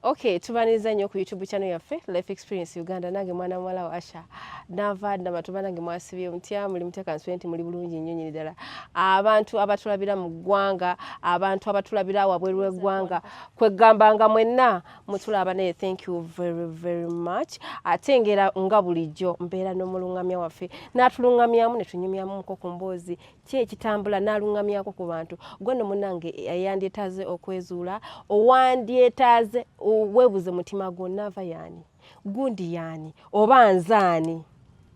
Okay, tubaniriza nnyo ku YouTube channel yaffe Life Experience Uganda nange mwana muwala wa Asha nava dama tubanange mwasibye mutya muli mutya kanswenti muli bulungi nnyo nyini ddala abantu abatulabira mu ggwanga abantu abatulabira wabweru w'eggwanga kweggamba nga mwenna mutulaba naye thank you very very much ate ngera nga bulijjo mbeera n'omulungamya waffe n'atulungamyamu ne tunyumyamu muko ku mboozi ki ekitambula n'aluŋŋamyako ku bantu gwe no munange eyandyetaaze okwezuula owandyetaaze weebuze mutima gwo naava yaani gundi yaani oba nzaani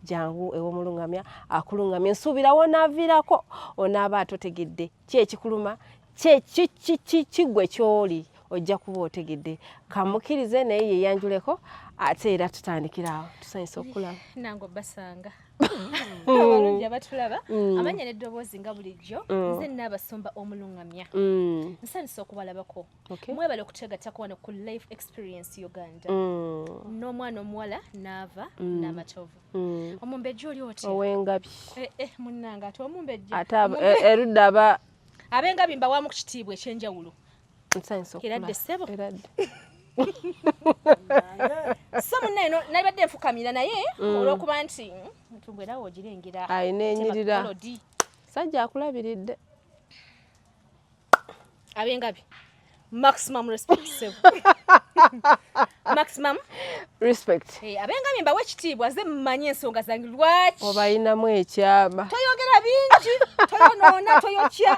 jangu ew'omuluŋŋamya akuluŋŋamya nsuubira wonaaviirako onaaba atotegedde ki ekikuluma kiggwe kyoli ojja kuba otegedde kamukirize naye yeyanjuleko ate era tutandikira awo tusanyusa okulaba nange obasanga abalungi abatulaba mm. amanya neddoboozi nga bulijjo mm. nze naabasumba omulungamya mm. nsanyusa okubalabako mwebale okutegatako wano ku life experience uganda n'omwana omuwala naava n'amatovu omumbejja oli oti owengabi eh, eh, munnange ate omumbejja ate eh, erudde aba Abengabi mbawaamu ku kitiibwa eky'enjawulo. Nsanyusa okula. Eradde ssebo. Eradde. so munne eno nalibadde nfukamira naye mm. olwokuba nti ntumbu era wogirengera alina enyirira sajja akulabiridde abengabi maximum respect sebo maximum respect hey, eh, abengamye mbawe ekitiibwa ze mmanyi ensonga zange lwaki obayinamu ekyama toyogera bingi toyonoona toyokya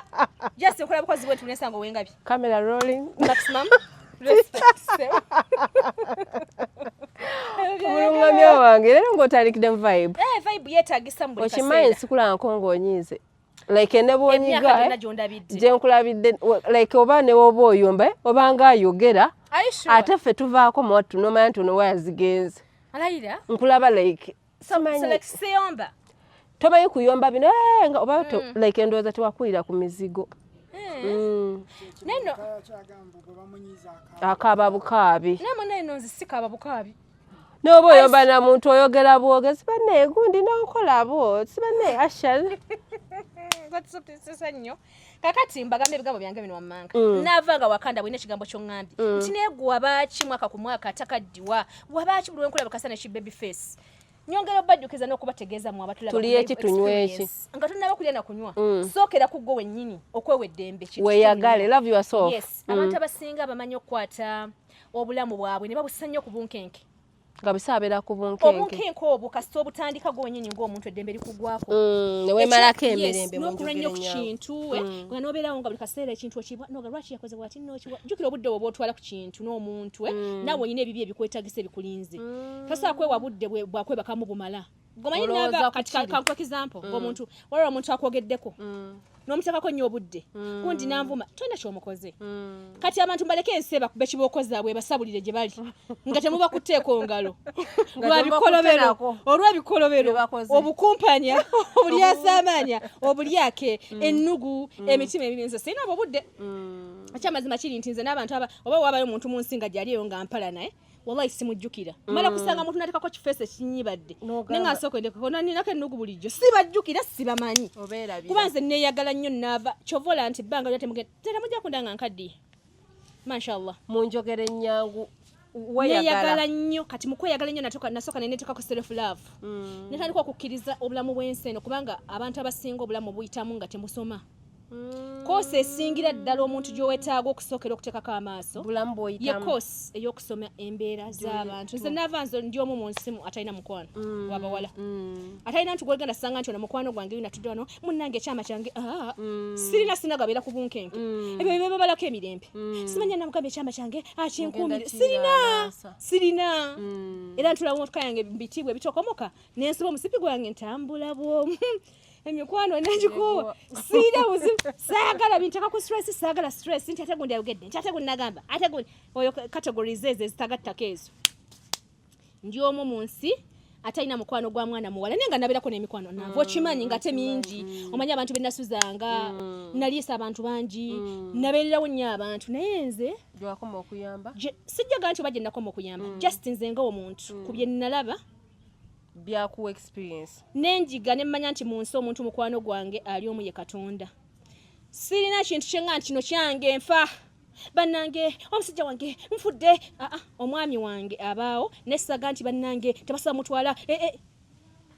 just okola bukozi bwetu nesanga owengabi camera rolling maximum respect sebo omulungamya wange leero ng'otandikidde mu vibe eh, vibe yeetagisa mu buli kaseera okimanyi nsikulangako ng'onyiize like nebwonyiga eh, gyenkulabidde like oba newoba oyomba eh, oba nga ayogera ate ffe tuvaako mwattu nomanya nti onowa yazigenze nkulaba like siyomba tomanyi kuyomba bino eh, nga oba mm. like endowooza tewakulira ku mizigo mm. akaba bukaabi noba oyomba na muntu oyogera bwogezi bane gundi nonkolabo sibane ashal batusukisisa nnyo kakati mbagamba ebigambo byange bino wammanga mm. naava nga wakanda bwina ekigambo kyoŋambye mm. nti naye gwe wabaaki mwaka ku mwaka atakaddiwa wabaaki buli wenkulaba kasa neki baby face nyongera obajjukiza n'okubategeeza mu abatulabatuliyo eki tunywa eki nga tunaba kulya na kunywa mm. sookera ku ggwe wennyini okwewa eddembe weyagale love your soul yes mm. abantu abasinga abamanyi okukwata obulamu bwabwe ne babussa nnyo ku bunkenke nga busa abeera ku bunkenke obunkenke obwo kasita obutandika gwonyini ng'omuntu eddembe likugwako mm, newemalako emirembe nokula nnyo ku kintu eh, mm. nga nobeerawo nga buli kaseera ekintu okibwa noga lwaki yakoze bwati nokiwa jjukira obudde bwe bwotwala ku kintu n'omuntu eh, mm. nawe olina ebibyo ebikwetagisa ebikulinze tasobola kwewa budde bwakwebakamu bumala gomanyi nava kati kankuwa kizampo mm. ngomuntu waliwo omuntu akwogeddeko mm. nomutekako nnyo obudde mm. kundi nanvuma tolina kyomukoze mm. kati abantu mbaleke ensi ebakube kibokozabwe ebasabulire gye bali nga temuba kuteeka ongalo lwabikolobero olwebikolobero obukumpanya obulyasamanya obulyake mm. ennugu mm. emitima emibi nze sirina obwo budde mm. akyamazima kiri nti nze n'abantu oba wabayo omuntu mu nsi nga gyali eyo nga mpala naye wallahi simujjukira mm. mala kusanga muntu natekako kifeesi ekinyibadde naye nga nsooka endekeko ninako ennugu bulijjo sibajjukira sibamanyi kuba nze neeyagala nnyo naava kyova ola nti bbanga lya temugenda tera mujja kunda nga nkaddiye mashallah munjogera ennyangu neeyagala nnyo kati mukweyagala nnyo nasooka nenetekako self love mm. netandika okukkiriza obulamu bw'ensi eno kubanga abantu abasinga obulamu buyitamu nga temusoma mm. koosi esingira ddala omuntu gy'owetaaga okusookera okuteekako amaaso ye koosi ey'okusoma embeera z'abantu nze naava nze ndi omu mu nsimu atalina mukwano mm. wabawala mm. atalina nti gwegenda sanga nti ono mukwano gwange yina tudde wano munnange ekyama kyange ah, sirina sinagabeera ku bunkenke ebyo byebabalako emirembe simanya namugamba ekyama kyange akyenkuumire ah, sirina sirina era ntulawo motoka yange bitiibwa ebitokomoka nensiba omusipi gwange ntambula bwomu emikwano nagikuwa siina buzibu saagala binteka ku stress saagala stress nti ate gundi ayogedde nti ate gundi nagamba ate gundi oyo categories ezo ezitagattako ezo ndi omu mu nsi atalina mukwano gwa mwana muwala naye nga nabeerako n'emikwano nava mm, okimanyi nga te mingi mm. omanyi abantu benasuzanga mm. naliisa abantu bangi nabeererawo nnyo abantu naye nze sijjaga nti oba gye nakoma okuyamba just nze nga omuntu ku bye nalaba byakuwa experience nenjiga nemmanya nti mu nsi omuntu mukwano gwange ali omu ye katonda sirina kintu kyenga nti kino kyange nfa bannange omusajja wange nfudde aa ah, ah, omwami wange abaawo nessaga nti bannange tebasa mutwala eh, eh.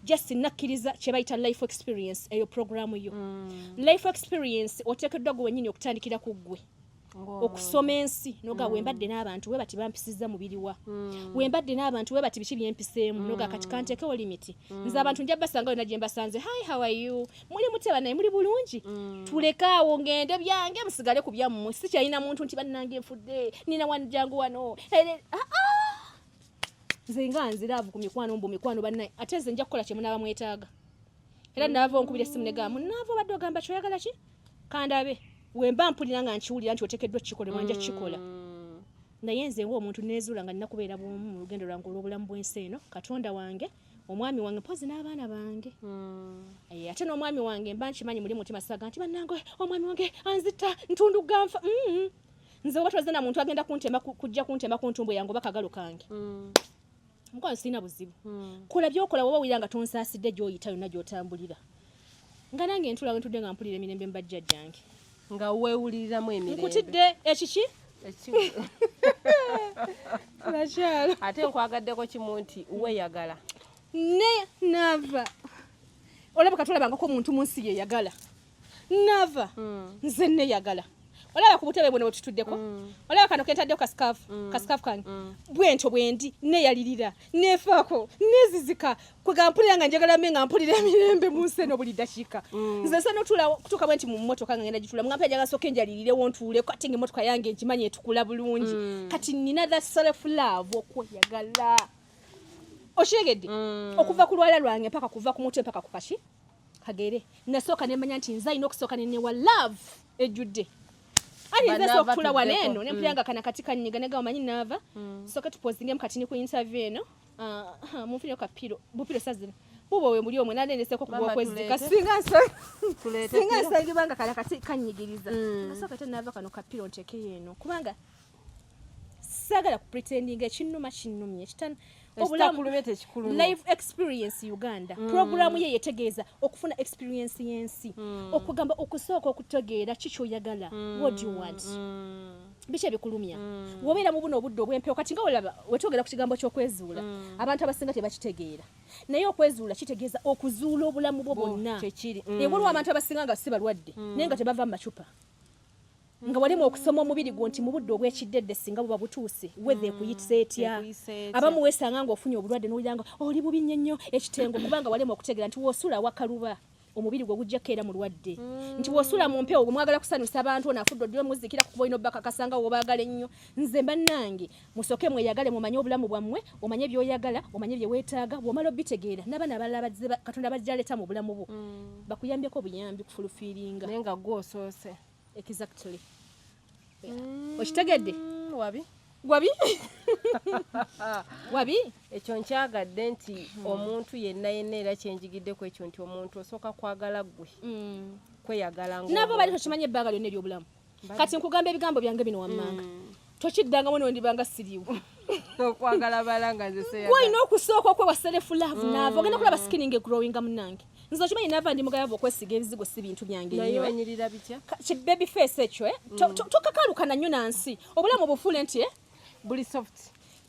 just nakkiriza kyebayita life experience eyo programu yo mm. life experience oteekeddwa gwe wenyini okutandikira ku ggwe okusoma ensi noga mm. wembadde n'abantu we bati bampisiza mubiriwa mm. wembadde n'abantu we bati biki byempiseemu mm. noga kati kanteekewo limiti mm. nze abantu nja basanga yona gye mbasanze hi how are you muli muteba naye muli bulungi mm. tulekaawo ngende byange musigale ku byammwe sikyalina muntu nti bannange nfudde nina wani jangu wano ah, ah! nze nga nziraavu ku mikwano mbu mikwano bannaye ate nze nja kukola kye munaaba mwetaaga era naava onkubira essimu ne gamba munaava obadde ogamba kyoyagala ki kandabe wemba mpulira nga nkiwulira nti otekeddwa kukikola mwanja kukikola mm. naye nze nga omuntu nezuula nga nina kubeera bwomu mu lugendo lwange olw'obulamu bw'ensi eno katonda wange omwami wange mpozi n'abaana bange hmm. eh, ate n'omwami wange mba nkimanyi muli mutima saga nti bannange omwami wange anzita ntundu ganfa mm-hmm. nze oba twaze na muntu agenda kuntema kujja kuntema ku ntumbu yange oba kagalo kange hmm. mukwano sirina buzibu hmm. kola byokola woba wira nga tonsaasidde gyoyita yonna gyotambulira nga nange ntula wentudde nga mpulira emirembe mbajja jange nga wewuliriramu emirembe nkutidde ekiki nakyalo ate nkwagaddeko kimu nti weyagala ne nava olabika tulabangako omuntu munsi yeyagala nava mm. nze neyagala olaba ku butebe buno bwetutuddeko mm. olaba kano kentaddeo kasikafu mm. kasikafu kange mm. bwentyo bwendi neyalirira nefaako nezizika kwegampulira nga njagala me nga mpulira emirembe mu nsi eno buli dakiika nze nsa notula kutuuka bwenti mu mmotoka nga ngenda gitula mugampa njagala soka enjalirirewo ntuuleko ate nga emmotoka yange ngimanyi etukula bulungi kati nina the self love okweyagala okiregedde okuva ku lwala lwange mpaka kuva ku mutwe mpaka ku kaki kagere nasooka nemanya nti nze alina okusooka nenewa love ejjudde ali nze sokutula wano eno nempulira nga kana kati kanyiga nega omanyi naava mm. soke tupozingemu kati ni ku interview eno ah, ah, munfunire kapiro bupiro sazina bubo we muli omwe naleneseko kubwokwezika singa nsange banga kala kati kanyigiriza mm. nasooka te naava kano kapiro ntekeyo eno kubanga sagala ku pretending ekinuma kinumye kitan obulamu live experience uganda mm. programu ye yetegeeza okufuna experience yensi mm. okugamba okusooka okutegeera kikyoyagala mm. what you want mm. biki ebikulumya mm. wobeera mu buno obudde obwempewo kati nga olaba wetwogera ku kigambo ky'okwezuula mm. abantu abasinga tebakitegeera naye okwezuula kitegeeza okuzuula obulamu bwo bwonna mm. ewaliwo abantu abasinga nga si balwadde mm. naye nga tebava mu macupa nga walema okusoma omubiri gwo nti mu budde obw'ekiddedde singa buba butuuse wedha ekuyitisa mm, etya abamu weesanga ng'ofunye obulwadde n'owulira nga oli bubi nnyo nnyo ekitengo kubanga walema okutegeera nti w'osula wakaluba omubiri gwe gujja kukeera mulwadde mm. nti w'osula mu mpewo gwe mwagala kusanyusa abantu ono afudde oddiwe muzikira kukuba olina obbakakasa nga wobaagala ennyo nze mbannange musooke mweyagale mumanye obulamu bwammwe omanye by'oyagala omanye bye weetaaga bw'omala obbitegeera n'abaana abalala bazze katonda bajja aleeta mu bulamu bwo mm. bakuyambeko obuyambi kufulufiiringa naye nga gwosoose Exactly. Yeah. Mm, Okitegedde? Wabi. Wabi? Wabi? Ekyo nkyagadde nti hmm. omuntu yenna yenna era kyenjigidde ku ekyo nti omuntu osooka kwagala ggwe. Hmm. Kweyagala ng'omuntu. Nabo bali tokimanyi ebbanga lyonna ery'obulamu. Kati nkugamba ebigambo byange bino wammanga. Hmm. tokiddangamu nondiba nga siriwo okwagala bala nga nzeseyalina okusooka okwewa selefu laavu mm. naava ogenda kulaba sikininga egrowinga munange nze okimanyi naava ndi mugayava okwesiga ebizigo si bintu byange kibebi face ekyo eh? mm. tokakalukana nnyo na nsi obulamu obufuule nti eh? buli soft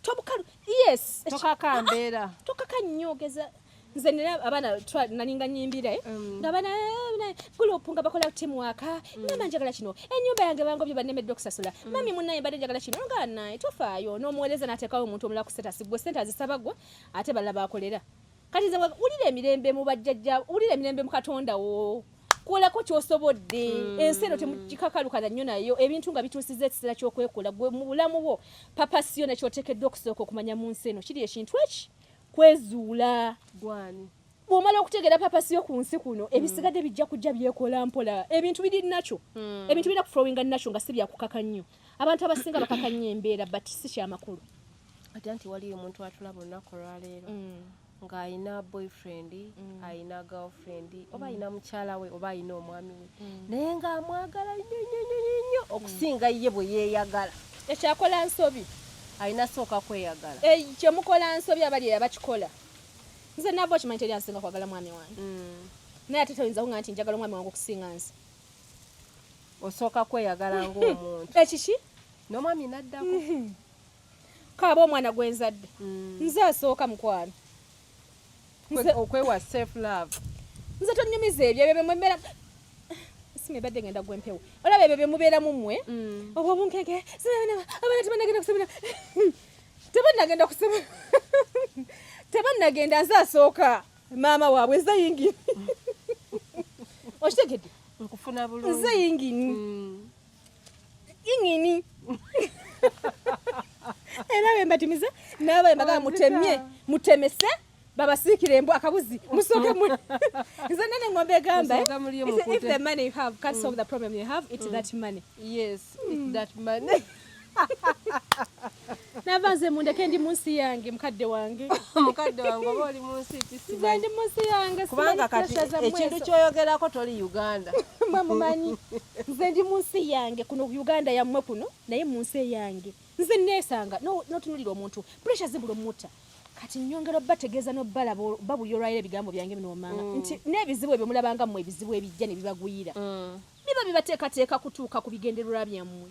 tobukalu yes tokakambeera ah, ah, tokaka nnyo ogeza nze nina abaana nalinga nyimbire mm. nga bana eh, gulupu nga bakola timu waka mm. ngamba njagala kino enyumba yange bangobye banemedde okusasula mm. mami munaye mbadde njagala kino nga naye tofaayo n'omuweereza n'ateekawo omuntu omulala ku setasi gwe sente azisaba gwe ate balala bakolera kati nze wulira emirembe mu bajjajja wulira emirembe mu katonda wo kolako kyosobodde hmm. ensi eno temukikakalukana nnyo nayo ebintu nga bituusiza ekiseera kyokwekola gwe mu bulamu bwo papasi yona kyotekeddwa okusooka okumanya mu nsi eno kiri ekintu eki kwezuula gwani bwomala okutegeera papasi yo ku nsi kuno hmm. ebisigadde bijja kujja byekola mpola ebintu biri nakyo hmm. ebintu birina kuflowinga nakyo nga si byakukaka nnyo abantu abasinga bakaka nnyo embeera but si kyamakulu ate nti waliyo omuntu atulaba olunaku olwaleero hmm. ng'alina boyfriend mm. alina girlfriend mm. oba alina mukyala we oba alina omwami we mm. naye ng'amwagala nnyo nnyo nnyo nnyo okusinga ye bwe yeeyagala ekyakola nsobi alina sooka kweyagala eh, kyemukola nsobi abali eyabakikola nze nava okimanyi teri ansinga kwagala mwami wange mm. naye ate toyinza kunga nti njagala omwami wange okusinga nze osooka kweyagala hmm. ngaomuntu ekiki eh, nomwami naddako hmm. kaaba omwana gwenzadde hmm. nze asooka mukwano okwewa safe love nze tonyumiza ebyo ebyo bemwemera sima ebadde ngenda gwa empewo olaba ebyo byemubeeramu mmwe mm. obwo obunkeke abaana tebanagenda kusomera tebanagenda kusomera tebanagenda nze asooka maama waabwe nze yingini okitegedde nkufuna bulungi nze yingini mm. ingini era bembatimiza naba embaga mutemye mutemese babasiikira embwa akabuzi musooke mu nze nene ngombe egamba if the money you have can't solve the problem you have it's mm. that money yes it's mm. that money nava nze mundeke ndi munsi yange mukadde wange mukadde wange oba oli munsi kisimanyi ndi munsi yange kubanga kati ekintu kyoyogerako toli uganda mwe mumanyi nze ndi munsi yange kuno uganda yammwe kuno naye munsi eyange nze neesanga notunulira omuntu pressure zibula omuta kati nyongera obategeeza nobalaba babuyolwaira ebigambo byange bino omanga mm. nti n'ebizibu ebyo mulabanga mmwe ebizibu ebijja ne bibagwira mm. biba bibateekateeka kutuuka ku bigendererwa byammwe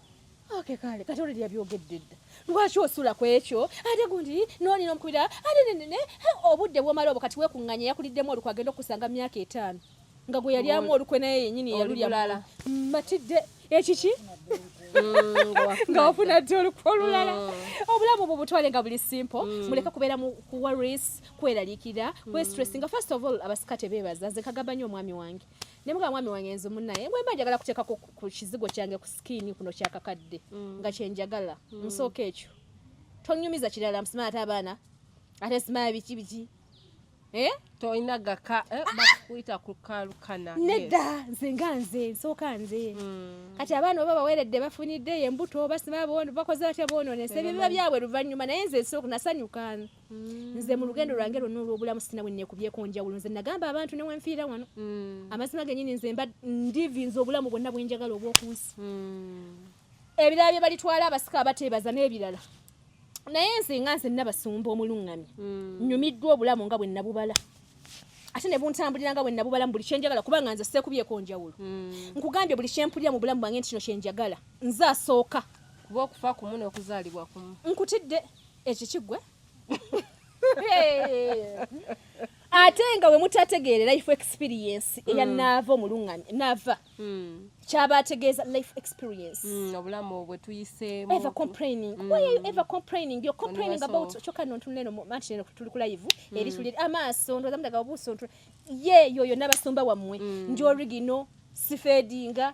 Okay, kale kati olidya byogedde dda lwaki osula ku ekyo ate gundi nooli nomukubira ate nenene obudde bwomala obwo kati wekunganya yakuliddemu olukwe agenda okukusanga mu myaka etaano nga gwe yalyamu olukwe naye yenyini yalulya matidde ekiki Mm, nga wafuna ddi olukwa olulala mm. obulamu bwo butwale nga buli simple mm. muleke kubeera mu kuwaris kweraliikira kwestress nga first of all abasika tebeebaza nze kagamba nnyo omwami wange ne muka mwami wange nze munaye mwe mba njagala kuteekako ku kizigo kyange ku sikiini kuno kyakakadde mm. nga kyenjagala mm. nsooka ekyo tonyumiza kirala msima ate abaana ate simaya biki biki eh? tolina gaka eh, ah! bakuyita kukalukana nedda nze nga nze nsooka nze mm. kati abaana oba baweredde bafunidde embuto basima bakoze batya boononese ebibiba byabwe luvannyuma naye nze nsooka nasanyuka Mm. nze mu lugendo lwange lwonna olw'obulamu sina bwe nekubyeko njawulo nze nagamba abantu ne wenfiira wano mm. amazima genyini nze mba ndivinza obulamu bwonna bwenjagala obw'okunsi mm. ebirala bye balitwala abasika abateebaza n'ebirala naye nze nga nze nabasumba omuluŋŋamya nnyumiddwa obulamu nga bwe nabubala ate ne buntambulira nga bwe nabubala mu buli kyenjagala kubanga nze seekubyeko njawulo nkugambye buli kyempulira mu bulamu bwange nti kino kyenjagala nze asooka kuba okufa kumu n'okuzaalibwa kumu nkutidde ekiki gwe ate nga we mutategeere life experience eya mm. naava omulunganya naava mm. kyaba ategeeza life experience mm, obulamu bwe tuyiseemu ever complaining why are you ever complaining you're complaining about kyoka no ntunula eno manti eno tuli ku live eri tuli amaaso ndowooza mudaga obuuso ntu ye yoyo n'abasumba wammwe nti origino sifeedinga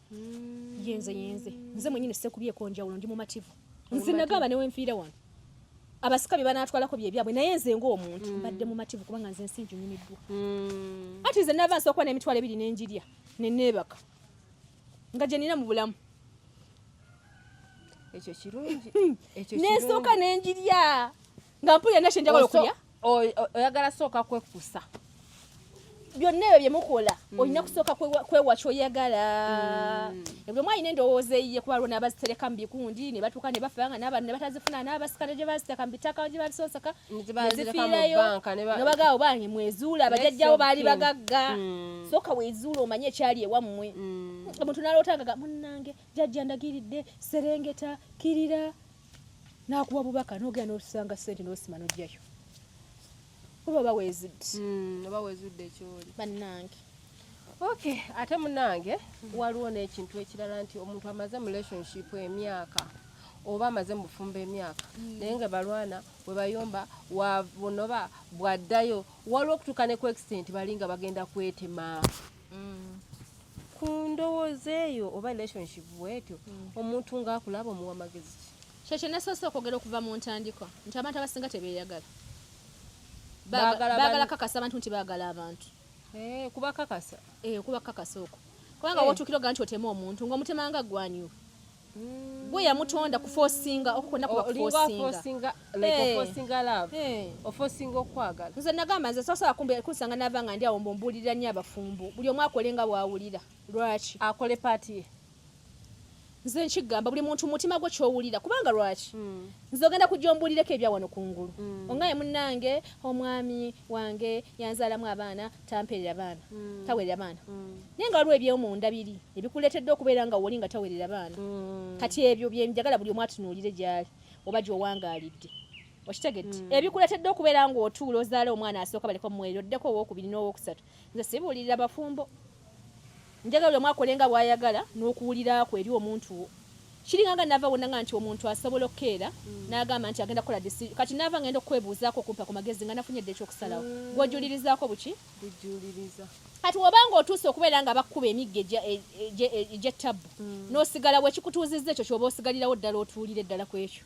mm. yenze yenze nze mwenyini sekubyeko njawulo ndi mumativu nze nagamba newenfiire wano abasika bye banatwalako bye byabwe naye nze ng'omuntu mm. mbadde mumativu kubanga nze ensi njunyumiddwa mm. ati nze nava nsookuba n'emitwalo ebiri nenjirya neneebaka nga gye nina mu bulamu ekyo kirungi nensooka nenjirya nga mpulira nakye njagala okulya oyagala sooka kwekusa byonna ebyo byemukola mm. olina kusooka kwewa kyoyagala mm. ebuli omu alina endowooza eyiye kuba lwona abazitereka mu bikundi ne batuuka ne bafa nga n'abantu ne batazifuna n'abasika ne gye baziteka mu bitaka gye babisonseka nezifiirayo nobagaawo bange mwezuula abajajjawo baali bagagga mm. sooka wezuula omanye ekyali ewammwe omuntu nalootangaga munnange jajja ndagiridde serengeta kirira nakuwa bubaka nogera nosanga sente nosima nojayo oba oba wezudde mm, oba wezudde kyoli bannange okay ate munange waliwo n'ekintu ekirala nti omuntu amaze mu relationship emyaka oba amaze mubufumbo emyaka mm. naye nga balwana webayomba wabunoba bwaddayo waliwo okutuuka ne ku extent bali nga bagenda kwetema mm. ku ndowooza eyo oba relationship bwetyo mm. omuntu ng'akulaba omuwa magezi ki kyekyo nasoose okwogera okuva mu ntandikwa nti abantu abasinga tebeeyagala baagala kakasa abantu nti baagala abantu eh, kuba kakasa eh, kuba kakasa okwo kubanga eh. wotuukira oga nti otema omuntu ngaomutema nga gwanyu gwe yamutonda kufosinga okukona kuba kufosinga ofosinga okwagala nze nagamba nze sasobola kumbe kusanga nava nga ndi awo mbumbulirira nyo abafumbo buli omu akole nga bwawulira lwaki akole paati ye nze nkigamba buli muntu mutima gwe kyowulira kubanga lwaki hmm. nze ogenda kujja ombulireko ebya wano kungulu hmm. ongaye munange omwami wange yanzaalamu abaana tamperera baana mm. tawerera baana mm. naye nga waliwo ebyomunda biri ebikuleetedde okubeera nga woli nga tawerera baana mm. kati ebyo byenjagala buli omu atunuulire gyali oba gyowangaalidde okitegedde mm. ebikuleetedde okubeera nga otuula ozaala omwana asooka baleka omuweerero oddeko owokubiri n'owokusatu nze sibuulirira bafumbo Njagala buli omu akole nga bw'ayagala n'okuwulira kwe eri omuntu wo. Kiringa nga nnaava wonna nga nti omuntu asobola okukeera n'agamba nti agenda kukola disi, kati nnaava ng'enda okukwebuuzaako okumpa ku magezi nga nafunye dda eky'okusalawo. Gw'ojuulirizaako buki? Bujuuliriza. Kati bw'oba ng'otuuse okubeera nga bakukuba emiggo egy'ettabbu n'osigala bw'ekikutuuzizza ekyo ky'oba osigalirawo ddala otuulire ddala ku ekyo.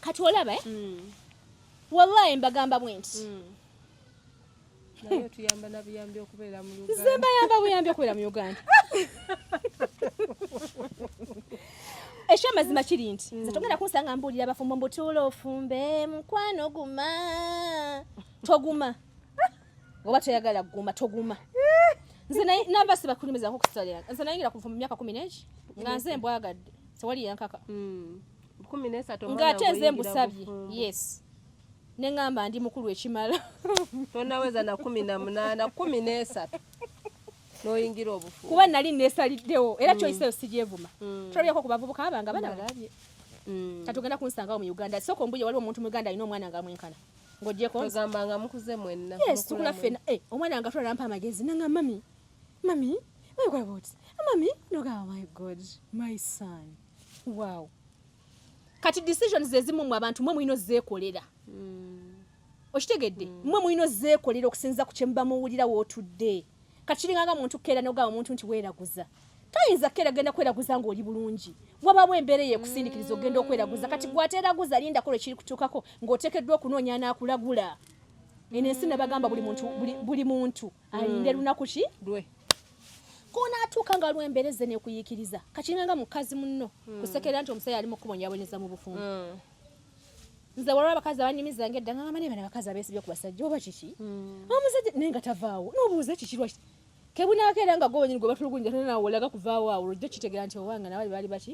kati olaba eh? mm. wallahi mbagamba bwenti mm. nze mbayamba buyambi okubeera mu uganda ekyo amazima kiri nti nze mm. togenda kunsanga mbuulira abafumbo mbutuula ofumbe mukwano guma toguma oba toyagala guma toguma nze namba sibakulimizako kusalira nze nayingira kuva mu myaka kumi negi nga nze mbwagadde tewali yankaka mm. ng'ate nze mbusabye yes neŋamba ndi mukulu ekimala tonaweza na kumi na munaana kumi n'esatu noyingira obufu kuba nali nesaliddewo era mm. kyoyiseyo sigyevuma mm. tulabyako ku bavubuka abanga bana balabye mm. katugenda kunsangawo mu uganda soko mbuye waliwo omuntu mu uganda alina omwana nga mwenkana ngojekogamba nga mukuze mwenna yes tukula fena eh, omwana nga tula nampa amagezi nanga mami mami mami kwaboti mami nogamba my god my son wow kati decision zezimu mu abantu mwe mulino zekolera mm. okitegedde mm. mwe mulino zekolera okusinza ku kyemuba muwulira wotudde kati kiringanga muntu kera nogaba omuntu nti weraguza toyinza kera genda kweraguza nga oli bulungi wabawo embeera eyekusindikiriza ogenda mm. okweraguza kati gwateraguza lindako lwekiri kutuukako ngaotekeddwa okunoonya nakulagula eno ensi nabagamba buli muntu buli muntu alinde hmm. lunaku ki lwe konaatuuka nga lwembereze nekuyikiriza kakiringa nga mukazi munno hmm. kusekerera nti omusajja ali mukubonyabonyeza mu bufumbo hmm. nze walaba abakazi abanyumiza nga edda ngamba nebana abakazi abesibye ku basajja oba kiki omusajja naye nga tavaawo nobuuza kiki lwaki kebunakeera nga gobanyini gwe batulugunja tnawolaga kuvaawo awo lwojja kitegera nti owanga nabali baali baki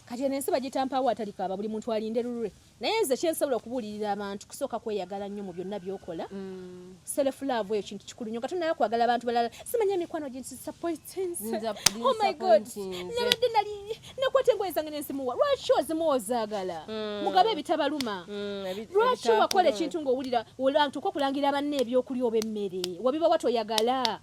kati eno ensi bagitampaawo atalikaaba buli muntu alinde lulwe naye nze kyensobola okubuulirira abantu kusooka kweyagala nnyo mu byonna byokola mm. selefulaavu eyo kintu kikulu nyo nga tonayo kwagala abantu balala simanya emikwano ginsapoitinsobmygod oh nabadde nali nakwata engoye zange nenzimuwa lwaki ozimuwa ozaagala mm. mugabe ebitabaluma mm, lwaki wakola ekintu ngaowulira olantuka okulangira banna ebyokulya oba emmere wabiba watoyagala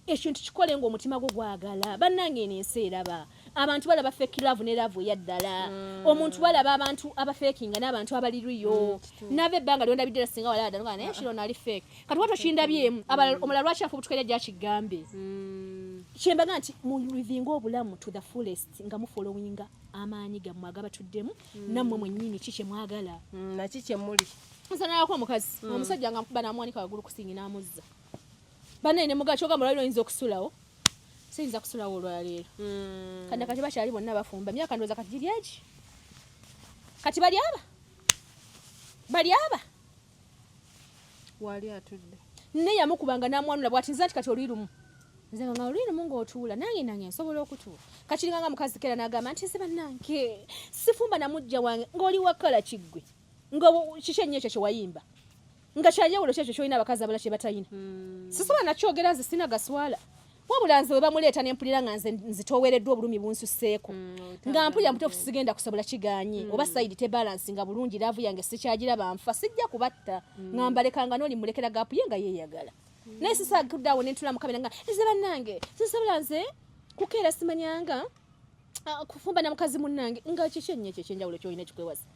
ekintu kikole nga omutima gwo gwagala bannange eno ensi eraba abantu balaba fake love ne love eyaddala mm. omuntu balaba abantu abafekinga n'abantu abaliriyo mm, nava ebbanga lyonda biddira singa walada nga naye kiro nali fake kati watu okindabyemu mm. abala omulala lwaki afubutukaira gyakigambe mm. kyembaga nti mulivinga obulamu to the fullest nga mufolowinga amaanyi gammwe agabatuddemu mm. nammwe mwennyini ki kye mwagala mm, naki kyemuli nsanalako omukazi mm. omusajja nga mukuba namwanika wagulu kusingi n'amuzza banene muga kyoga mulwaliro oyinza okusulawo siyinza kusulawo olwaleero mm. kanda kati bakyali bonna bafumba myaka ndowooza kati giri egi kati bali aba bali aba wali atudde naye yamukubanga namwanula bwati nze nti kati oluyi lumu nze nga nga oluyi lumu ngaotuula nange nange nsobola okutuula kakiringa nga mukazi kera nagamba nti nze banange sifumba namujja wange ngaoli wakala kiggwe nga kiki ennyo ekyo kyewayimba nga kyajawulo kyekyo kyolina abakazi abala kyebatayina hmm. sisobola nakyogera nze sina gaswala wabula nze webamuleeta nempulira nga nze nzitowereddwa obulumi bunsuseeko hmm, nga mpulira mutuufu sigenda kusobola kiganye hmm. oba saidi tebalansi nga bulungi laavu yange sikyagiraba nfa sijja kubatta nga mbalekanga noli mulekera gaapu ye nga yeyagala naye sisagudde awo nentula mukabira nga nze bannange sisobola nze kukeera simanyanga ah, kufumba na mukazi munnange nga kiki ennyo ekyo ekyenjawulo kyolina ekikwewasa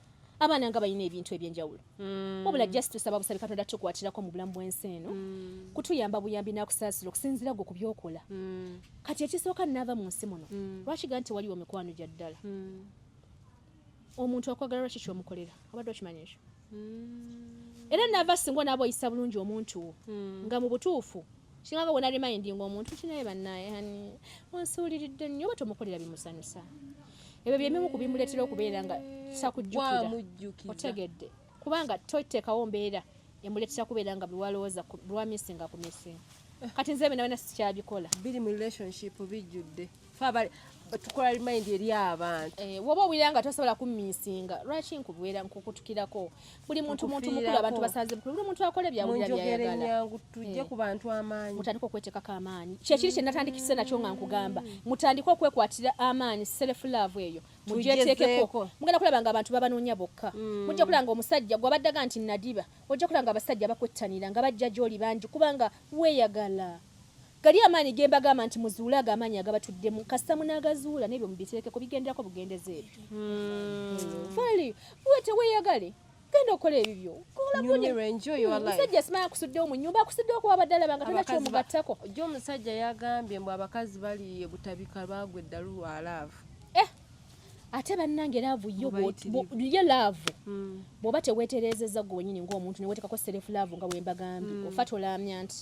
abaana nga balina ebintu ebyenjawulo mm. wabula just tusaba busabi katonda tukwatirako mu bulamu bwensi eno mm. kutuyamba buyambi nakusaasira okusinzira gwe ku byokola mm. kati ekisooka naava mu nsi muno mm. lwaki ga nti waliwo mikwano gya ddala mm. omuntu akwagala lwaki kyomukolera abadde okimanyi ekyo mm. era nava singa onaaba oyisa bulungi omuntu wo mm. nga mu butuufu kinganga wona remindinga omuntu kinaye banaye hani onsuuliridde nnyo oba tomukolera bimusanyusa ebyo byebimu ku bimuleetera okubeera nga sakujjukira otegedde kubanga toteekawo mbeera emuleetera kubeera nga biwalowooza lwamisinga ku misinga kati nze bina bina sikyabikola biri mu relationship bijjudde tukola remind eri abantu eh, woba owulira nga tosobola kumisinga lwaki nkubeera nkukutukirako buli muntu muntu mukulu abantu basanze bukulu buli muntu akola ebyawulira byayagala tujje eh, ku bantu amaanyi mutandika okwetekako amaanyi kyekiri kye natandikise nakyo nga nkugamba mutandike okwekwatira amaanyi self love eyo mugyeteekeko mugenda kulaba nga abantu babanoonya bokka mm. mujja kulaba nga omusajja gwabaddaga nti nadiba ojja kulaba nga abasajja bakwettanira nga bajja gyoli bangi kubanga weeyagala Gali amaanyi gembagamba nti muzuule ago amaanyi agabatuddemu kasita munagazuula nebyo mubiteekeko bigenderako bugendeza ebyo hmm. fali uwe teweyagale genda okola ebibyo omusajja simaya akusuddewo mu nyumba akusuddewo kuba abadde alaba nga tona kyomugattako jo omusajja yagambye mbu abakazi bali ebutabika lwagwa eddalu lwa laavu eh, ate bannange laavu yo ye laavu hmm. bw'oba teweetereezezza gwe wenyini ng'omuntu newetekako serefu laavu nga bwembagambye hmm. ofa tolaamya nti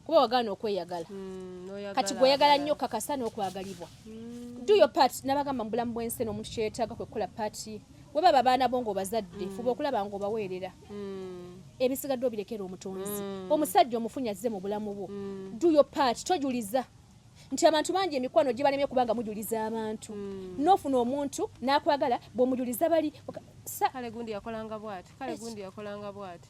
kuba wagaana okweyagala mm, kati gweyagala nnyo kakasa n'okwagalibwa mm. do your part nabagamba mubulamu bwensi eno omuntu kyeyetaaga kwe kukola paati webaba abaana bo ngaobazadde mm. fuba okulaba nga obaweerera mm. ebisigadde obirekera omutonzi mm. omusajja omufunyazze mu bulamu bwo mm. do your part tojuliza nti abantu bangi emikwano gibalemye kubanga mujuliza abantu mm. nofuna omuntu nakwagala bwomujuliza bali kale gundi yakolanga bwati kale gundi yakolanga bwati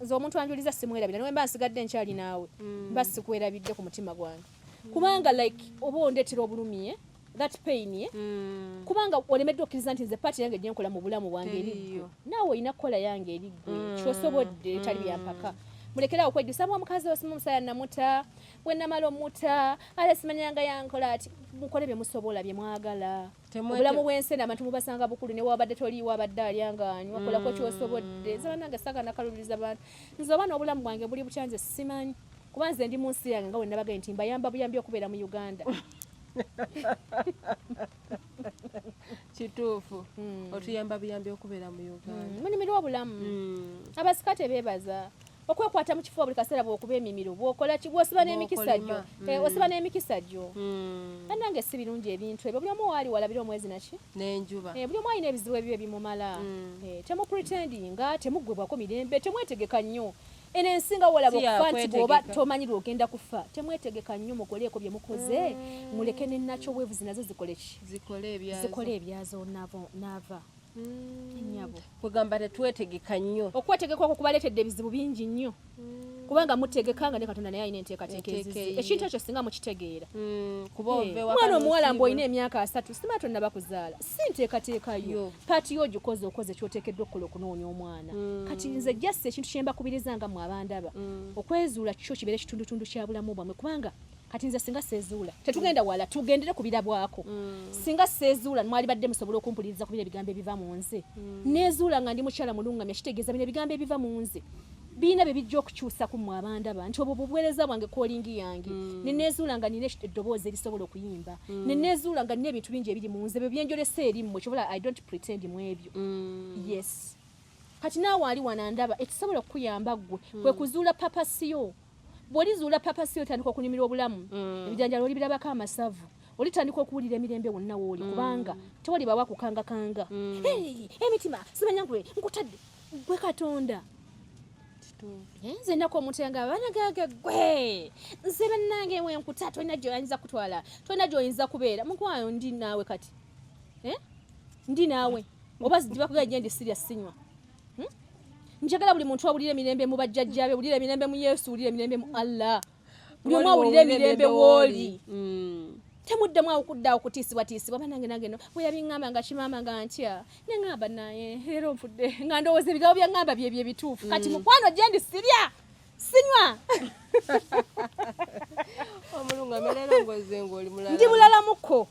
nze omuntu anjuliza simwerabira nawe mba nsigadde nkyali naawe mm. mba sikwerabidde ku mutima gwange mm. kubanga like oba ondetera obulumi eh? that pain eh? mm. kubanga olemeddwa okkiriza nti nze paati yange gyenkola mu bulamu bwange eriggwe naawe olina kukola yange eriggwe mm. kyosobodde etali mm. byampaka mulekerawo kwejjusa mwa mukazi osima omusaya namuta wenamala omuta ala simanyanga yankola ati mukole byemusobola byemwagala obulamu bwensena abantu mubasanga bukulu newabadde toliiwo abadde alya ngaanywa kolako mm. kyosobodde nze banange saga nakalubiriza bantu nze oba n'obulamu bwange buli bukya nze simanyi kuba nze ndi mu nsi yange nga wenabagaye nti mbayamba buyambi okubeera mu uganda kituufu hmm. otuyamba buyambi okubeera mu uganda hmm. munyumirwa obulamu hmm. abasika tebebaza okwekwata mu kifuba buli kaseera bwokuba emimiro bwokola ki bwosiba n'emikisa gyo eh, mm. osiba n'emikisa gyo mm. bannange si birungi ebintu ebyo buli omu waali walabira omwezi naki n'enjuba eh, buli omu alina ebizibu ebyo ebimumala mm. eh, temupretendinga temuggwebwako mirembe temwetegeka nnyo eno ensi nga wolaba okufa nti bwoba tomanyi lwogenda kufa temwetegeka nnyo mukoleeko bye mukoze muleke nenakyo weevuzi nazo zikole ki zikole ebyazo naava nyabo kwegamba tetwetegeka nnyo okwetegeka okwo kubaleetedde ebizibu bingi nnyo mm. kubanga mutegeka nga ne katonda naye alina enteekateeka ezizi ekintu ekyo singa mukitegeera mm, eh, mwana omuwala mbu olina emyaka asatu simaa tonnaba kuzaala si nteekateeka yo paati yo ogikoze okoze kyoteekeddwa okukola okunoonya omwana mm. kati nze jasi ekintu kyembakubiriza nga mwe abandaba okwezuula kikyo kibeere ekitundutundu kya bulamu bwamwe kubanga kati nze singa seezuula tetugenda mm. wala tugendere ku birabwako mm. singa seezuula mwali badde musobola okumpuliriza ku bino ebigambo ebiva mu nze mm. neezuula nga ndi mukyala mulungamya kitegeeza bino ebigambo ebiva mu nze biina bye bijja okukyusa ku mwe abandaba nti obwo bubuweereza bwange kolingi yange ne neezuula nga nina eddoboozi erisobola okuyimba ne neezuula nga nina ebintu bingi ebiri mu nze bwe byenjolesa eri mmwe kyobola i don't pretend mu ebyo yes kati naawe ali wanandaba ekisobola okukuyamba ggwe kwe kuzuula papasiyo bwolizuula papa si otandika okunyumirwa obulamu mm. ebijanjalo olibirabako amasavu olitandika okuwulira emirembe wonna wooli mm. kubanga tewali bawa kukangakanga mm. emitima simanya gwe nkutadde gwe katonda eh, nze ennaku omuntu yanga banagage gwe nze bannange wenkuta tolina gyoyinza kutwala tolina gyoyinza kubeera mukwayo ndi naawe kati eh? ndi naawe oba zidibakugera gyendi sirya sinywa hmm? njagala buli muntu awulire emirembe mu bajjajjabe wulire emirembe mu yesu wulire emirembe mu allah buli omu awulire emirembe wooli hmm. temuddamu awukudda okutiisibwatiisibwa banange nange no bwe yabiŋŋamba nga kimaama nga ntya ne ŋŋamba naye leero nfudde nga ndowooza ebigambo bya ŋŋamba byebyo ebituufu kati hmm. mukwano gyendi sirya sinywa ndi mulalamuko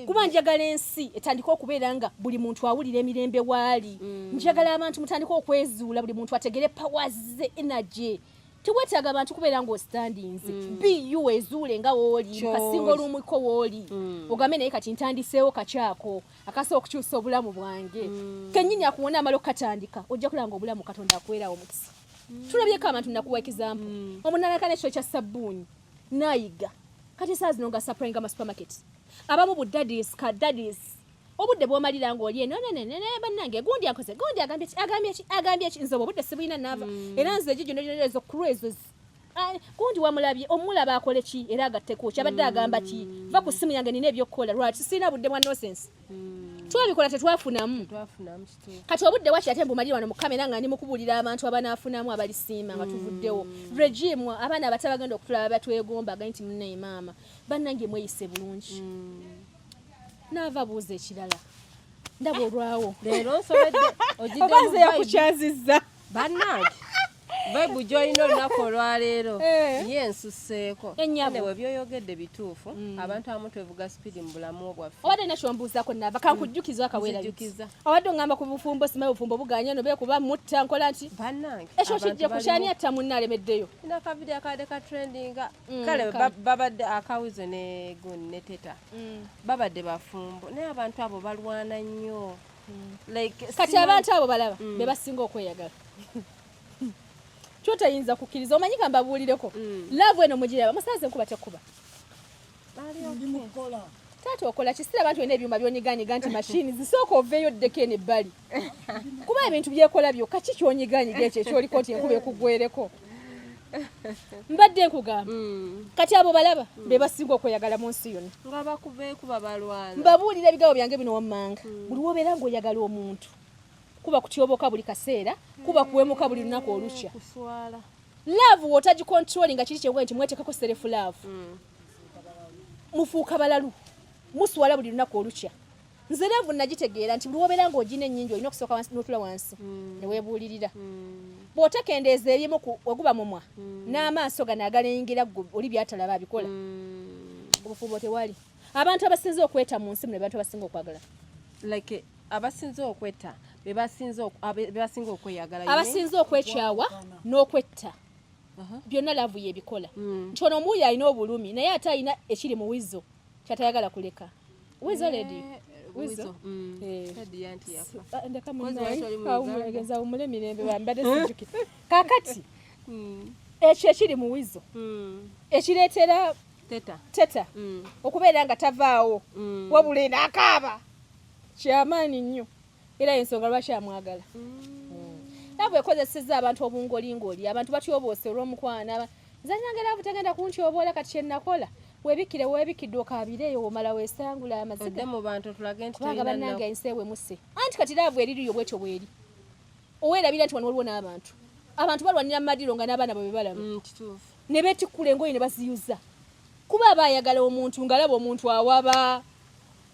kuba njagala ensi etandika okubeera nga buli muntu awulira emirembe waali mm. njagala abantu mutandika okwezuula buli muntu ategere pawaze energy tewetaaga abantu kubeera ngaostandinze mm. bu ezuule nga wooli kasinga olumwiko wooli mm. ogambe naye kati ntandiseewo kakyako akasobola okukyusa obulamu bwange kenyini akuwona amala okukatandika ojja kulaba nga obulamu katonda akwerawo mukisa mm. tulabyeko abantu nakuwa ekizampu mm. omunalaka nekyo kya sabbuuni nayiga kati saa zino nga sapurayinga ma supermarket abamu bu dadis ka dadis obudde bwomalira nga oli eno nenenene bannange gundi akoze gundi agambye ki agambye ki agambye ki nze obudde sibulina naava mm. era nze egyo gyona gyona ezo kulu ezo Gundi wamulabye omulaba akole ki era agatteko ki abadde agamba ki va ku ssimu yange nina ebyokukola lwaki sirina budde bwa nosense hmm. twabikola tetwafunamu kati obudde waki ate mbumalire wano mukamera nga ndi mukubuulira abantu abanaafunamu abalisiima nga tuvuddewo hmm. regime abaana abata bagenda okutulaba batwegomba agai nti munaye maama bannange mweyise bulungi hmm. naava buuza ekirala ndaba olwawo leero nsobedde ogideoba nze yakukyaziza bannange bebu gyolina olunaku olwaleero eh. ye nsuseeko ewe byoyogedde bituufu mm. abantu abamu twevuga sipiidi mu bulamu bwaffe obadde na kyombuuzako naaba kankujjukiza akaweerajjukiza obadde ongamba ku bufumbo sima obufumbo buganya no beekuba mutta nkola nti bannange ekyo kijja kukyani atta munna alemeddeyo ina kavidiyo akabadde ka trendinga mm, kale babadde akawizo ne gun ne teta mm. babadde bafumbo naye abantu abo balwana nnyo kati abantu abo balaba mm. bebasinga okweyagala kyotayinza kukkiriza omanyi ka mbabuulireko mm. laavu eno mugiraba musaze nkuba tekuba taata okola kisira abantu olina ebyuma byonyiganyiga nti mashini zisooka oveeyo ddeko eno ebbali kuba ebintu byekola byokka ki kyonyiganyiga ekyo ekyoliko nti enkuba ekugwereko mbadde nkugamba mm. kati abo balaba mm. be basinga okweyagala mu nsi yona mbabuulira ebigambo byange bino wammanga mm. buli wobeera ngaoyagala omuntu kuba kutyoboka buli kaseera kuba kuwemuka buli lunaku olukya laavu wotagikontroli nga kiri kyenga nti mwetekako serefu laavu mufuuka balalu muswala buli lunaku olukya nze laavu nagitegeera nti buli wobeera nga ogina ennyingi olina okusooka notula wansi hmm. newebuulirira hmm. bwotekendeeza ebyemu weguba mumwa hmm. n'amaaso gano agalengera gwe oli byatalaba abikola obufubo tewali abantu abasinze okweta mu nsi muno abantu abasinga okwagala like abasinze okweta bebasinga okweyagala abasinze okwekyawa n'okwetta uh-huh. byonna laavu yebikola nti ono omuwuyo alina obulumi naye ate alina ekiri muwizo kyatayagala kuleka wizo lady wizo mm. eh. ndekamunaegeza umule mirembe bambade sijuki kakati mm. ekyo ekiri mu wizo mm. ekireetera teta, teta. Mm. okubeera nga tavaawo mm. wabula enakaaba kyamaanyi nnyo era yensonga lwaki amwagala nabwe ekozeseza abantu obungolingoli abantu batyoboose olwomukwano nzanyanga laavu tegenda kuntyoboola kati kyenakola webikire webikidde okabireeyo womala wesangula amazigaanga banange ensi ewemuse anti kati laavu eririyo bwetyo bweri owerabira nti wano waliwo n'abantu abantu balwanira mumadiro nga n'abaana bwe bebalaba mm, ne betikkula engoye ne baziyuza kuba aba ayagala omuntu ng'alaba omuntu awaba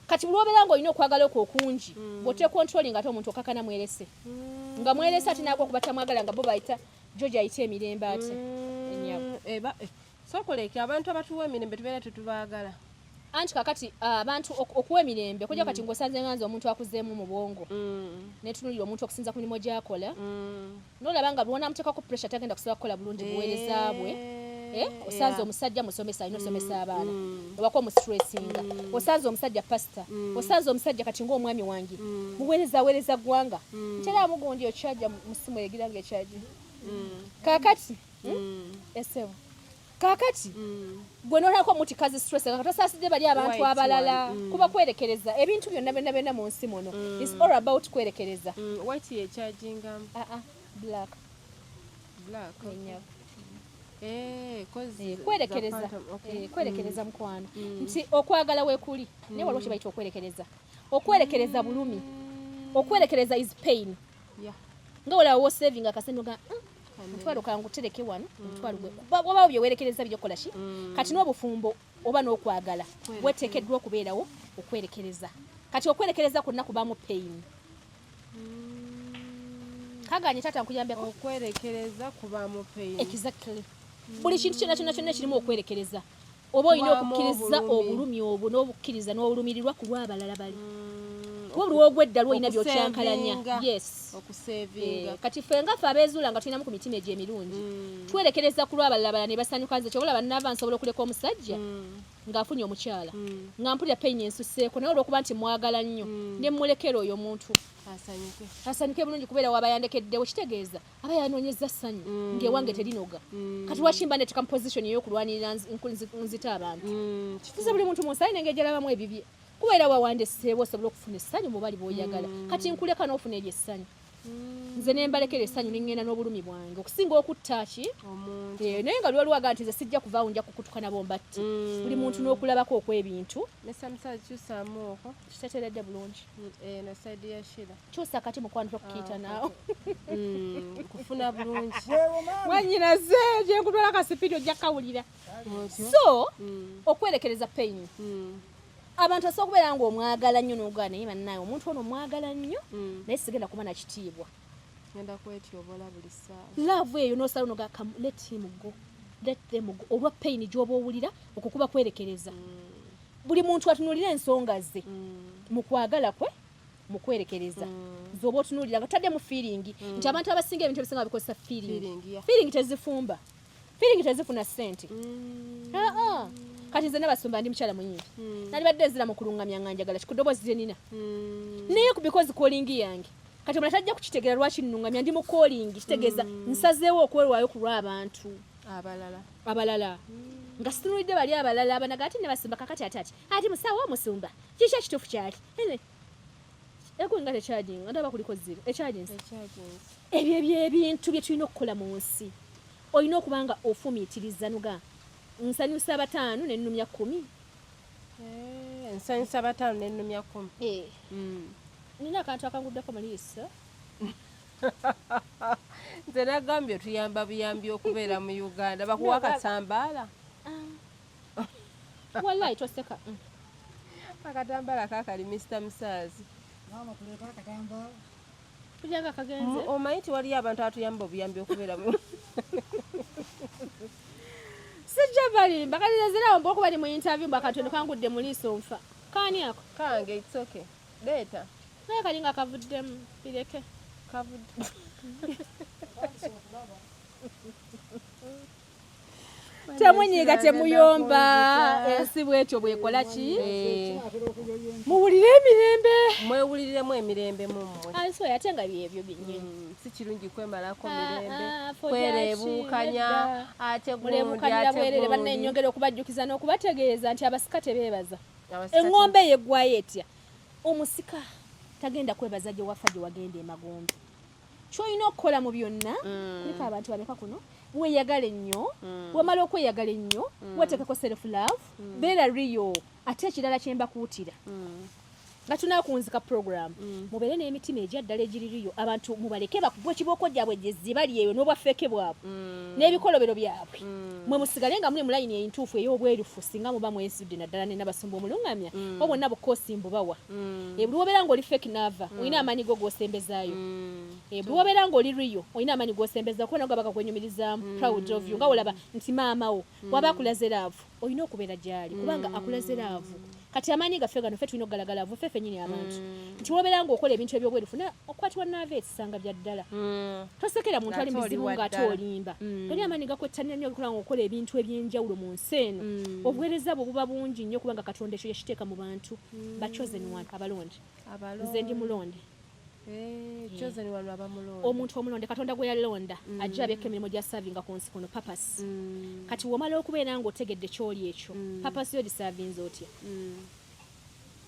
kati bulwobeera nga olina okwagala okwo okungi mm. bwotekontrolinga ate omuntu okakana mwerese mm. nga mwerese ati nagwa kuba tamwagala nga bo bayita jojo ayite emirembe ati mm. eh, eh, sokoleke abantu abatuwa emirembe tubeera tetubagala anti kakati ah, abantu okuwa emirembe okujja kati mm. ngosanze nganza omuntu akuzeemu mu bwongo mm. netunulira omuntu okusinza ku mirimu gyakola mm. nolaba nga bwonamutekako pressure tagenda kusaba kukola bulungi buwereza bwe eh, eh, osanze omusajja musomesa alina osomesa mm, abaana mm. obako omusitressinga mm. osanze omusajja pasita osanze omusajja kati ngaomwami wange muwereza awereza ggwanga ntera amugundi okyaja musimu egira nga ekyaji kakati hmm? esebo kakati mm. gwe nolako muti kazi stress nga tosasidde bali abantu abalala mm. kuba kwerekereza ebintu byonna byonna byonna mu nsi muno mm. is all about kwerekereza mm. white ye charging um. uh -uh. black black okay. Eh, eh, kwerekereza eh, kwerekereza mm. mukwano mm. nti okwagala wekuli mm. naye waliwo kyebayita okwerekereza okwerekereza bulumi okwerekereza is pain nga olawo wosavinga akasente oga mutwalo kangutereke wano mutwalo gwe wabawo byewerekereza byokola ki mm. kati n'obufumbo oba n'okwagala weteekeddwa okubeerawo okwerekereza kati okwerekereza kwonna kubamu peyini mm. kaganye taata nkuyambeko okwerekereza kubamu peyini exactly buli kintu kyona kyona kyona ekirimu okwerekereza oba olina okukkiriza obulumi obwo n'obukkiriza n'olumirirwa ku lw'abalala bali mm, kuba oluwa ogwedda lwolina byokyankalanya yes okusevinga eh, kati ffe nga ffe abeezuula nga tulinamu ku mitima egyo emirungi mm. twerekereza ku lw'abalala bala ne basanyuka nze kyobola bannaava nsobola okuleka omusajja mm. ng'afunye omukyala nga mpulira payini ensuseeko naye olwokuba nti mwagala nnyo ne mmulekera oyo omuntu asanyuke bulungi kubeera wabayandekeddewo kitegeeza aba yanonyeza ssanyu mm. ngaewange terinoga mm. kati wakimba netuka mu position eyokulwanirira nzita abantu mm, kiza buli muntu munsayi nenge gyalabamu ebibye kuba era wawandeseewo osobola okufuna essanyu mubali bwoyagala mm. kati nkuleka nofuna eryo essanyu mm. nze nembalekera essanyu nengenda n'obulumi bwange okusinga okutta ki eh, naye nga lwaliwo aga nti nze sijja kuvaawo nja kukutuka nabo mbatti mm. buli muntu n'okulabako okw'ebintu kitateredde bulungi eh, kyusa kati mukwano tokukiyita ah, naawe mm, kufuna bulungi mwanyinaze gyekutwala kasipidi ojja kawulira so mm. okwerekereza payini mm. abantu asobola okubeera nga omwagala nnyo nogaa naye bannaawe omuntu ono omwagala nnyo naye sigenda kuba nakitiibwa laavu eyo nosala noga let him go let them go olwa payini gyoba owulira okukuba kwerekereza buli muntu atunulira ensonga ze mu kwagala kwe mukwerekereza mm. zoba otunulira nga tutaddemu feeling mm. nti abantu abasinga ebintu ebisinga bikozesa feeling feeling tezifumba feeling tezifuna sente mm. ah, ah. kati nze nabasumba ndi mukyala muyimbi nali badde nzira mu kulungamya nga njagala kikudobozi lye nina naye kubikozi kolingi yange kati omulala tajja kukitegera lwaki nnungamya ndi mu kolingi kitegeeza nsazeewo okwerwayo ku lw'abantu abalala abalala nga situnulidde bali abalala abanaga ati nebasimba kakati ati ati ati musawo omusumba Kiki ekituufu kyali? Ego nga tekyajinga ndaba kuliko zero ekyajinzi ebyo ebyebintu bye tulina okukola mu nsi olina okuba nga ofumiitiriza nuga nsanyusa bataano nenumya kumi eh, nsanyusa bataano nenumya kumi eh. mm. nina akantu akanguddeko muliiso nze nagambye otuyamba buyambi okubeera mu uganda bakuwa akasambaala wallahi toseka mm. akatambala kakali mr musaazi kulyanga kagenze omanyi ti waliyo abantu atuyamba obuyambi okubeeramu sijja balimba kati nezirawo mba okuba li mu interview mba katono kangudde mu liiso nfa kaani ako kange it's okay leeta naye kali nga kavuddemu bireke kavudde temunyiiga temuyomba ensi bwetyo bwekola ki muwulire emirembe mwewuliriremu emirembe mummwe ansi oyo ate nga byebyo byenyini mm, si kirungi kwemalako ah, mirembe ah, kwereebuukanya ate guleebuukanira bwerere bannenyongera okubajjukiza n'okubategeeza nti abasika tebeebaza eŋŋombe eyo eggwayo etya omusika tagenda kwebaza gye wafa gye wagenda emagombe kyolina okukola mu byonna mm. kulika abantu bameka kuno weyagale nnyo mm. wamala okweyagala ennyo mm. wateekako self love mm. beera riyo ate ekirala kyembakuutira mm. nga tunakunzika program mm. mubeere n'emitima egyaddala egiririyo abantu mubaleke bakubwa ekibooko gyabwe gyezibali eyo n'obwafeeke bwabwe mm. n'ebikolobero byabwe mm. mwe musigale nga muli mulayini entuufu ey'obwerufu singa muba mwesudde naddala nenabasumba omulungamya mm. obwonna bukoosi mbubawa mm. ebuli wobeera nga oli fake nava mm. olina amaanyi go gosembezaayo mm. ebuli eh, wobeera nga oli riyo olina amaanyi gosembeza kuba nago bakakwenyumirizamu mm. proud of you nga olaba nti maamawo mm. waba akulaze laavu olina okubeera gyali kubanga mm. akulaze laavu kati amaanyi gaffe gano fe tulina okugalagala avu fe fenyini abantu mm. nti wobeera nga okola ebintu ebyobweru funa okukwatibwa naava ekisanga bya ddala mm. tosekera muntu ali muzibu ngaate olimba mm. gali amaanyi gakwettanira nyo okola nga okola ebintu ebyenjawulo mu nsi eno obuweereza bwe buba bungi nnyo kubanga katonda ekyo yekiteeka mu bantu mm. ba chosen one abalonde nze ndi mulonde eh, eh. omuntu omulonde katonda gwe yalonda mm. ajja abyeko emirimu gya savinga ku nsi kuno papas mm. kati womala okubeera nga otegedde kyoli ekyo mm. papas yo gisavinze otya mm.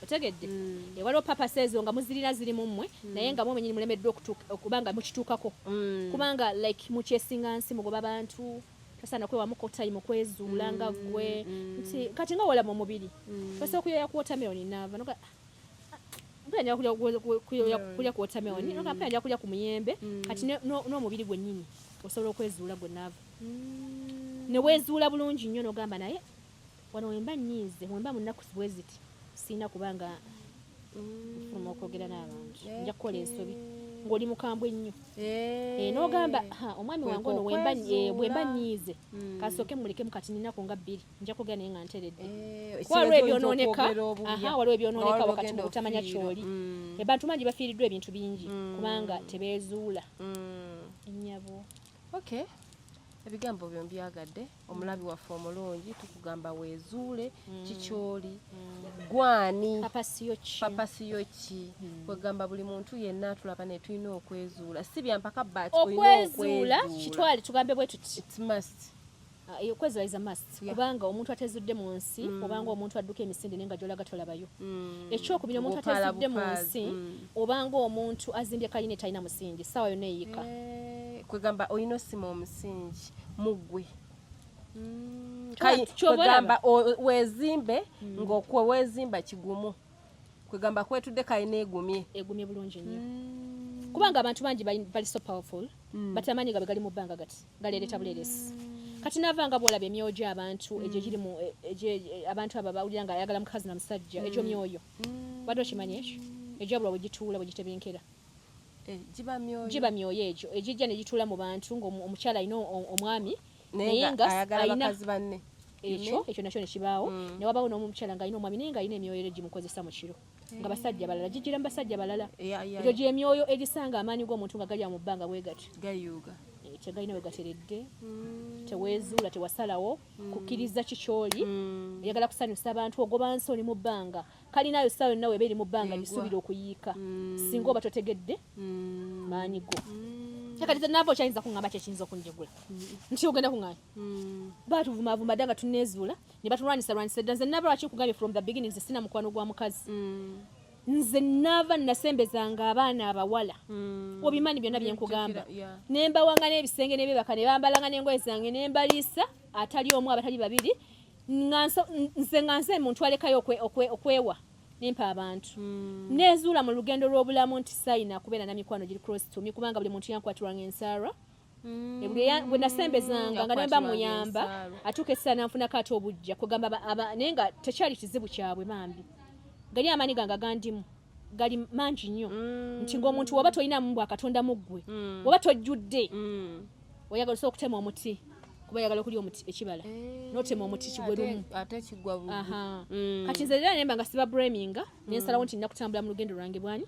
otegedde mm. e, waliwo papas ezo nga muzirina ziri mu mmwe mm. naye nga mwomenyini mulemeddwa okuba nga mukituukako mm. kubanga like mukyesinga nsi mugoba bantu tosaana kwewamuko time kwezuula nga mm, gwe mm. nti kati nga walaba omubiri mm. osobola okuyoya ku watermelon naava noga mpenda kulya ku watermelon noga mpenda kulya ku muyembe kati n'omubiri gwennyini osobola okwezuula gwe naava newezuula bulungi nnyo nogamba naye Wano wemba nyiize wemba munaku bweziti sirina kuba nga nfuluma okwogera n'abantu nja kukola ensobi ng'oli mukambwe ennyo eh. Eh, n'ogamba omwami wange ono wemba eh, nyiize hmm. kasooke mulekemu kati ninaku nga bbiri nja kwogera naye nga nteredde waliwo ebyonooneka waliwo ebyonooneka wakati mu kutamanya kyoli hmm. abantu bangi bafiiriddwa ebintu bingi hmm. kubanga tebeezuula nnyabo okay ebigambo byo mbyagadde omulabi waffe omulungi tukugamba wezuule mm. kikyoli mm. gwani papasiyoki mm. kwegamba buli muntu yenna atulaba ne tulina okwezuula si byampaka bat okwezuula kitwale tugambe bwe tuti ah, eh, okwezula is a must kubanga omuntu atezudde mu nsi obanga omuntu adduka emisinde naye nga gyolaga tolabayo ekyokubiri omuntu atezudde mu nsi obanga omuntu azimbye kalina etalina musingi saawa yonna eyika eh, kwegamba olina osima omusingi muggwe mm, kwegamba wezimbe mm. ngaokwe wezimba kigumu kwegamba kwetudde kalina egumye egumye bulungi nnyo mm. kubanga abantu bangi bali so powerful but amaanyi gabe gali mu bbanga gati galeereta buleeresi kati nava nga bwolaba emyoyo gyabantu egyo giri mu e, e, e, abantu abo bawulira nga ayagala mukazi na musajja egyo myoyo wadde okimanyi ekyo egyabula bwegituula bwegitebinkera mm. Eh, giba myoyo giba myoyo egyo egijja ne gituula mu bantu ng'omukyala alina omwami naye nga alina ekyo ekyo nakyo nekibaawo mm. ne wabaawo n'omukyala ng'alina omwami naye ng'alina emyoyo ero gimukozesa mu kiro nga eh. basajja balala gigira mu basajja balala egyo gyemyoyo egisanga amaanyi g'omuntu nga galya mu bbanga bwe gati gayuuga tegalina wegateredde mm. tewezuula tewasalawo mm. kukkiriza kikyoli mm. eyagala kusanyusa abantu ogoba nsoni mu bbanga Kalina ayo ssaawa yonna weba eri mu bbanga gisuubira okuyiika mm. singa oba totegedde mm. maanyi go mm. kati naava okyayinza kuŋamba kyekiyinza okunjegula nti ogenda kuŋanya batuvumavuma dda nga tuneezuula ne batulwanyisa lwanyisa dda nze naba lwaki nkugambye from the beginning nze sina mukwano gwa mukazi nze naava nasembezanga abaana abawala obimanyi byonna byenkugamba nembawanga n'ebisenge nebebaka nebambalanga n'engoye zange nembaliisa atali omu abatali babiri nze nga nze muntu alekayo okwewa nempa abantu hmm. nezuula mu lugendo lw'obulamu nti sayina kubeera na mikwano giri cross to me kubanga buli muntu yankwatirwanga ensaalwa hmm. bwe nasembezanga nga nemba muyamba atuuka essala nanfunako ate obujja kugamba naye nga tekyali kizibu kyabwe bambi gali amaanyi gange agandimu gali mangi nnyo mm. nti ng'omuntu woba tolina mu bwa katonda mu ggwe mm. woba tojjudde mm. oyagala osobola okutema omuti kuba yagala okulya omuti ekibala eh, notema omuti kigwerumu mm. kati nze era nemba nga siba braminga mm. nensalawo nti nina kutambula mu lugendo lwange bwani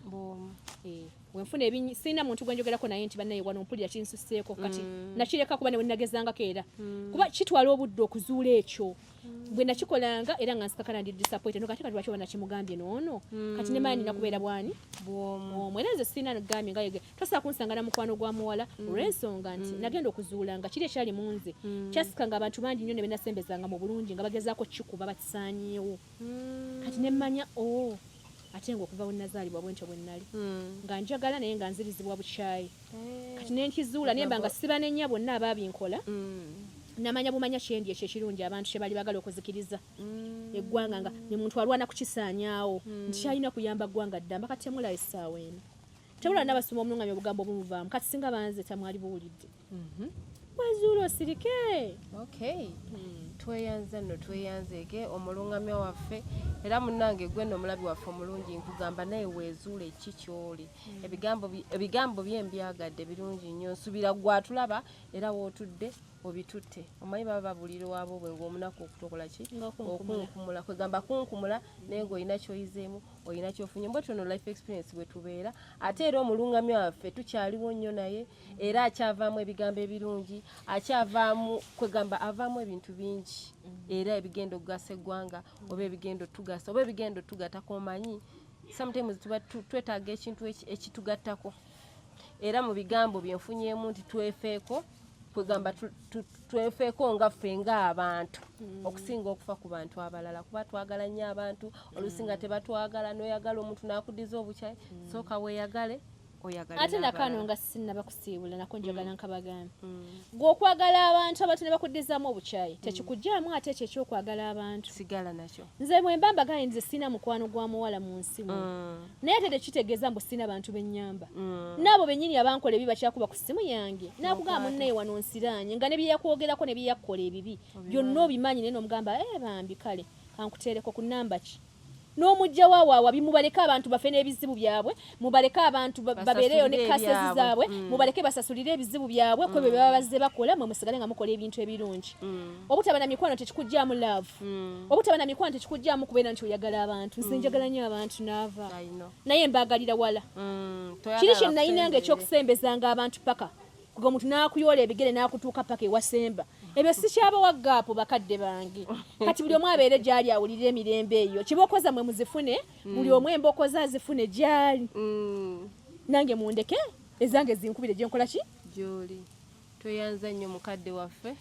eh, wenfuna ebinyi sirina muntu gwenjogerako naye nti banaye wano mpulira kinsuseeko kati mm. nakireka kuba newenagezangako era kuba kitwala obudde okuzuula ekyo bwe nakikolanga era nga nsikakana ndi disappointed no kati kati lwaki wanakimugambye noono kati ne maani nakubeera bwani bwomu era nze sirina gambye nga yege tosobola kunsanga na mukwano gwa muwala mm. olw'ensonga nti mm. nagenda okuzuula nga kiri ekyali mu nze mm. kyasika nga abantu bangi nnyo ne benasembezanga mu bulungi nga bagezaako kikuba bakisaanyeewo kati ne mmanya o oh, ate nga okuva bwe nazaalibwa bwentyo bwe nnali nga njagala naye nga nzirizibwa bukyayi kati nenkizuula nemba nga sibanenya bonna ababinkola namanya bumanya kyendi ekyo ekirungi abantu kyebali bagala okuzikiriza mm. eggwanga nga ne muntu alwana kukisaanyaawo mm. nti kyalina kuyamba ggwanga ddamba kati temulaba essaawa eno tebulaba nabasoma omulungamya obugambo obumuvaamu kati singa banze tamwali buwulidde mhm. wazuula osirike hmm. tweyanze no tweyanzeeke omulungamya waffe era munange gwe no omulabi waffe omulungi nkugamba naye wezuule ki kyoli ebigambo ebigambo bye mbyagadde birungi nnyo nsubira gwatulaba era wootudde obitutte omanyi baba babulira wabo bwe ngaomunaku okutokola ki okunkumula kwegamba kunkumula naye nga olina kyoyizeemu olina kyofunye mbwe tuno life experience bwe tubeera ate era omulungamya waffe tukyaliwo nnyo naye era akyavaamu ebigambo ebirungi akyavaamu kwegamba avaamu ebintu bingi mm. era ebigenda okugasa eggwanga oba ebigenda otugasa oba ebigenda otugatako omanyi sometimes tuba twetaaga ekintu ekitugattako era mu bigambo bye nfunyeemu nti twefeeko kwegamba twefeeko nga ffe ng'abantu hmm. okusinga okufa ku bantu abalala kuba twagala nnyo abantu olusinga hmm. tebatwagala noyagala omuntu nakudiza obukyayi hmm. sooka weyagale ate nakano nga sinaba kusiibula nako njagala mm. nkabagambe mm. gwe okwagala abantu abantu ne bakuddizamu obukyayi mm. tekikugyamu ate ekyo ekyokwagala abantu sigala nakyo nze mwemba mbagane nze sirina mukwano gwa muwala mu nsi mu naye ate tekitegeeza mbu sirina bantu bennyamba naabo bennyini abankola ebibi bakyakuba ku ssimu yange nakugamba munnaye wano nsiraanye nga ne byeyakwogerako ne byeyakkola ebibi byonna obimanyi naye nomugamba e bambi kale kankuteereko ku namba ki n'omujjawo awo awabi mubaleke abantu bafe n'ebizibu byabwe mubaleke abantu babeereyo ne kasezi zaabwe mm. mubaleke basasulire ebizibu byabwe kwebyo mm. baba bazze bakola mwe musigale nga mukola ebintu ebirungi mm. obutaba na mikwano tekikugyamu love obutaba na mikwano tekikugyamu kubeera nti oyagala abantu nze njagala nyo abantu naava naye mbaagalira wala kiri kye nayinanga ekyokusembezanga abantu paka kuga omuntu n'akuyoola ebigere n'akutuuka paka ewasemba ebyo sikyabawa gaapu bakadde bange kati buli omu abeere gyali awulirira emirembe eyo kibooko zammwe muzifune mm. buli omu embooko ze azifune gyali mm. nange mundeke ezange zinkubire gyenkola ki gyoli tweyanza nnyo mukadde waffe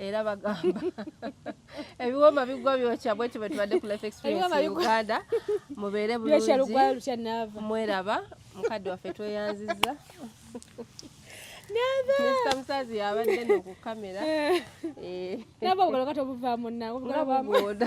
era bagamba ebiwoma bigwa byokya bwekyo bwetubadde ku life experience mu uganda mubeere bulungi mweraba mukadde waffe tweyanziza Mr. Musazi yabadde no ku kamera. Eh. Nabo ogoloka tobuvaamu nawo. Nabo boda.